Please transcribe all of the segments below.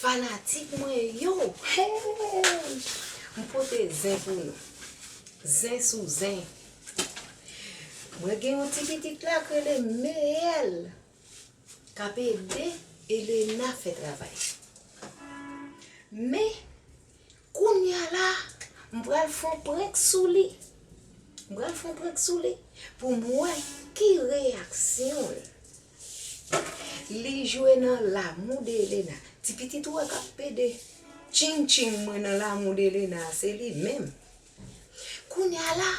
Fanatik mwen yo hey m pote zen pou nou zen sou zen mwen gen yon ti pitit la k rele meyèl kap ede elena fè travay men Kounya la m pral fon prank sou li. M pral fon prank sou li pou m wè ki reyaksyon l. Li jwe nan L'amour de Elena. Ti pitit ou a k ap pede tching tching mwen nan L'amour de Elena a se li menm. Kounya la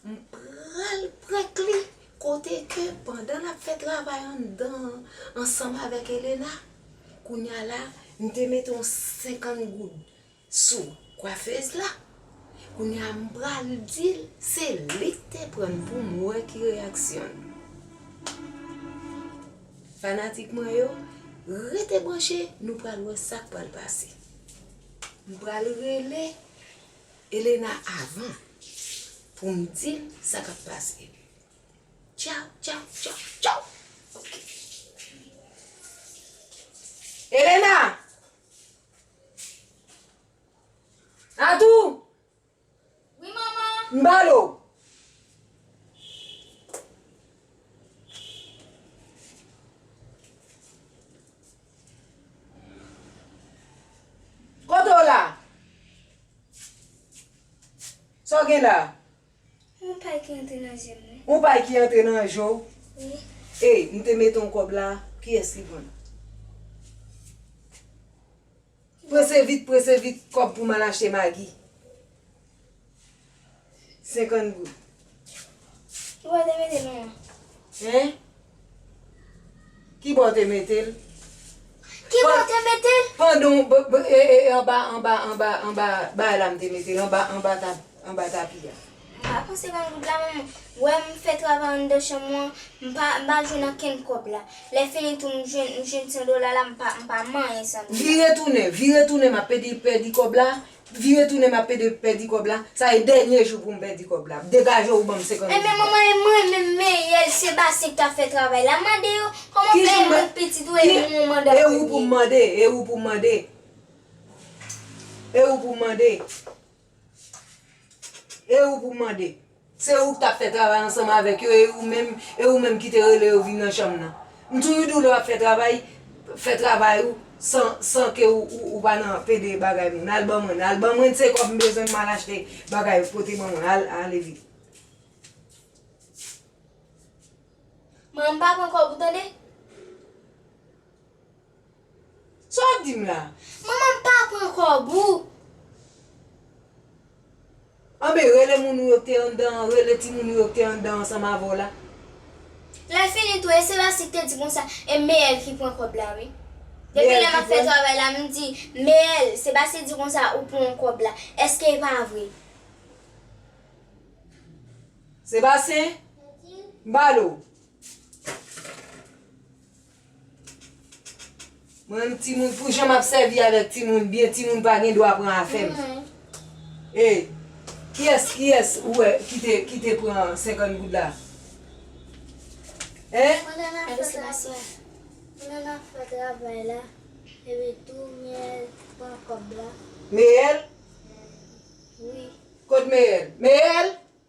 M pral prank li kote ke pandan lap fè travay anndan an ansanm avèk Elena, kounya la m te mete yon 50 goud sou kwafez la, kounya m pral dil se li k te prann pou m wè ki reyaksyon l. Fanatik mwen yo rete branche nou pral wè sak pral pase. M pral rele. Elena avan pou m di l sa kap pase. Tchaw tchaw tchaw tchaw ok. Elena! Natou! Wi manman! M ba l ou. Kote w la? Sa w gen la? Yon pay ki antre nan je m wi. Yon pay ki antre nan je w? Wi. Ey, m te mete yon kòb la, kiyès ki pran l? Prese vit prese vit kob pou mal achte magi 50 goud. Ki bo te mete nou an. Hein? Ki bo te mete l? Ki bo te mete l? Pandan w anba anba anba anba bay la m te mete l anba anba tab. anba tapi a. M pa panse banm goud la mwen wè m fè travay anndan chanm mwen m pa m pa jwenn ankenn kòb la lè fini tou m jwenn m jwenn 100 dola la m pa m pa manyen 100 dola. Vire tounen vire tounen m ap pede pèdi kòb la vire tounen m ap pede pèdi kòb la sa e dènye jou pou m pèdi kòb la degaje w banm 50 goud la. Enben manman e mwen menm meyè l se basen k ta fè travay la mande yo kòman m fè mwen k pitit ou e m ou mande an premye. E ou pou m mande e ou pou m mande e ou pou m mande. E ou pou mande? Se ou ki t'ap fè travay ansanm avèk yo e ou menm, e ou menm ki te rele yo vin nan chanm nan. M toujou di w lè w'ap fè travay, fè travay ou san, san ke ou pa nan pede bagay moun. Al ban mwen, al ban mwen se kòb m bezwen m'al achte bagay ou pote ban mwen, al, ale vit. M'en m pa pran kòb ou tande. Sa wap dim la? Manman m pa pran kob ou. Anben rele moun ou yo k te anndan an rele timoun ou yo k te anndan ansanm avèw la. Lè fini tou e se Rasi k te di konsa e Meyèl ki pran kòb la wi. Depi lè map fè travay la m di Meyèl se Basi di konsa ou pran kòb la eske e pa vre. Sebastien, m pale w. Mwen menm timoun pou jan map sèvi avèk timoun byen timoun pa gen dwa pran afèm. Hey kiyès kiyès ou wè kite kite pran 50 goud la hein. Mwen nan ap fè travay mwen nan ap fè travay la epi tou miyèl pran kòb la. Meyèl? Wi. Kot meyèl? Meyèl!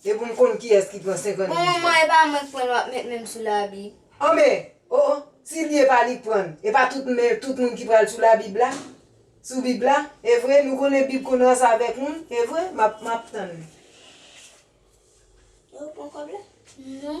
E pou m konn kiyès ki pran 50 Bon gouj manman e pa mwen k pranl wap met menm sou la bib. An men oh oh si li epa li k pranl epa tout men tout moun ki pral sou la bib la sou bib la evre nou konnen bib konn ranse avek moun evre map map tann li. Ew pran kob la? Non.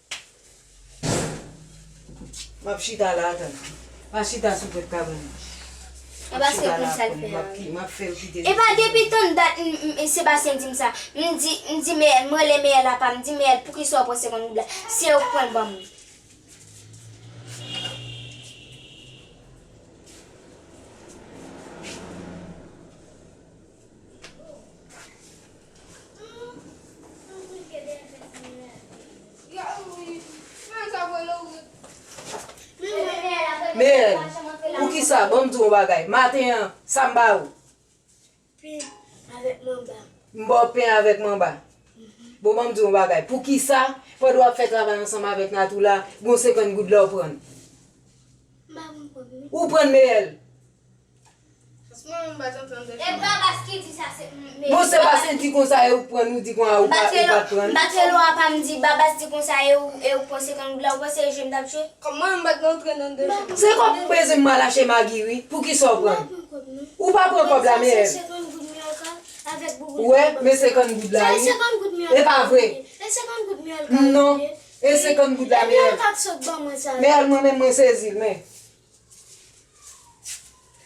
Map chita la atan. Pa chita sou pot kab non. E paske konn sal fè a wi. Map fel kite sou pot. Epa depi tann dat Sébastien dim sa. M di Meyèl m rele Meyèl apa m di Meyèl poukisa ou pran 50 goud la. Si ew k pranl banm. Meyèn, poukisa, banm di w yon bagay, maten an, sa m ba ou? Pen avèk manba. M ba w pen avèk manba? Bon, banm di w yon bagay, poukisa, pandan w ap fè travay ansanm avèk Natou la, gen yon senkann goud la ou pran l? M pa konprann. Ou pran l, Meyèl? Bon se bas ki di konsa e ou k prann ou di konsa ou pa prann. Se kòb pou bezwen mal achte magi wi pou kisa ou prann. Ou pa pran kòb la men. Ou wè men 50 goud la wi. E pa vre. Non e 50 goud la men. Men mwen menm mwen sezi l men.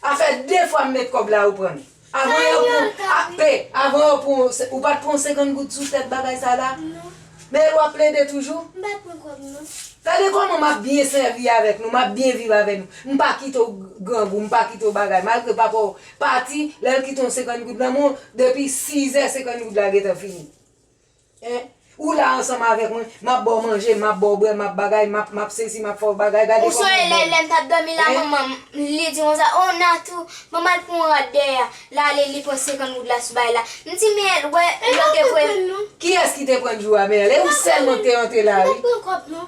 A fè 2 fwa m met kòb la ou prann. Avan yo pran AP, avan yo pran w, ou pat pran 50 goud sou tèt bagay sa la? Non. Men e wap plede toujou? M pa pran kòb non. Gade kòman map byen sèvi avèk nou, map byen viv avèk nou. M pa kite w grangou, m pa kite w bagay. Malgre papa w pati, lè l kite yon 50 goud nan men w, depi 6 zè 50 goud la gentan fini. Hein? Ou la ansanm avèk mwen, map baw manje, map baw bwè, map bagay, map, map sesi, map fè w bagay, gade Ou kòman sonje ou lè, bèl. lèm tap dòmi la Hein? manmanm, li di konsa, oh Nathou, manman al pran yon rad dèyè a, lale li pran 50 goud la sou bay la. M di men el wè Mwen pa lòt epoy. konprann non. Kiyès ki te prann jou a men el? E ou sèlman k te antre la wi. Mwen pa konprann kòb non.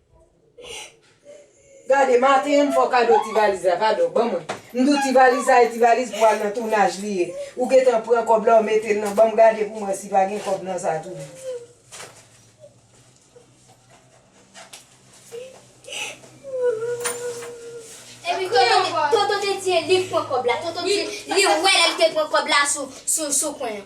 Gade maten an m fè w kado ti valiz la pardon ban mwen m di w ti valiz sa e ti valiz pou al nan tounaj li ye ou gentan pran kòb la ou mete l nan ban m gade pou m wè si pa gen kòb nan sa toujou. Tonton te di e li k pran kòb la tonton di li wè lè l te pran kòb la sou kwen an.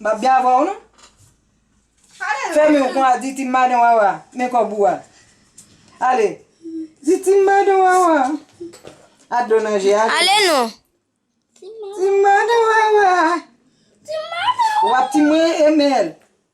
Map gen avèw non. Fè men kon a di ti madan wawa men kòb ou a. Ale. Di ti madan wawa. A dlo nan je a. Ale non. Ti madan wawa. Ti madan. Wap ti mwen emel.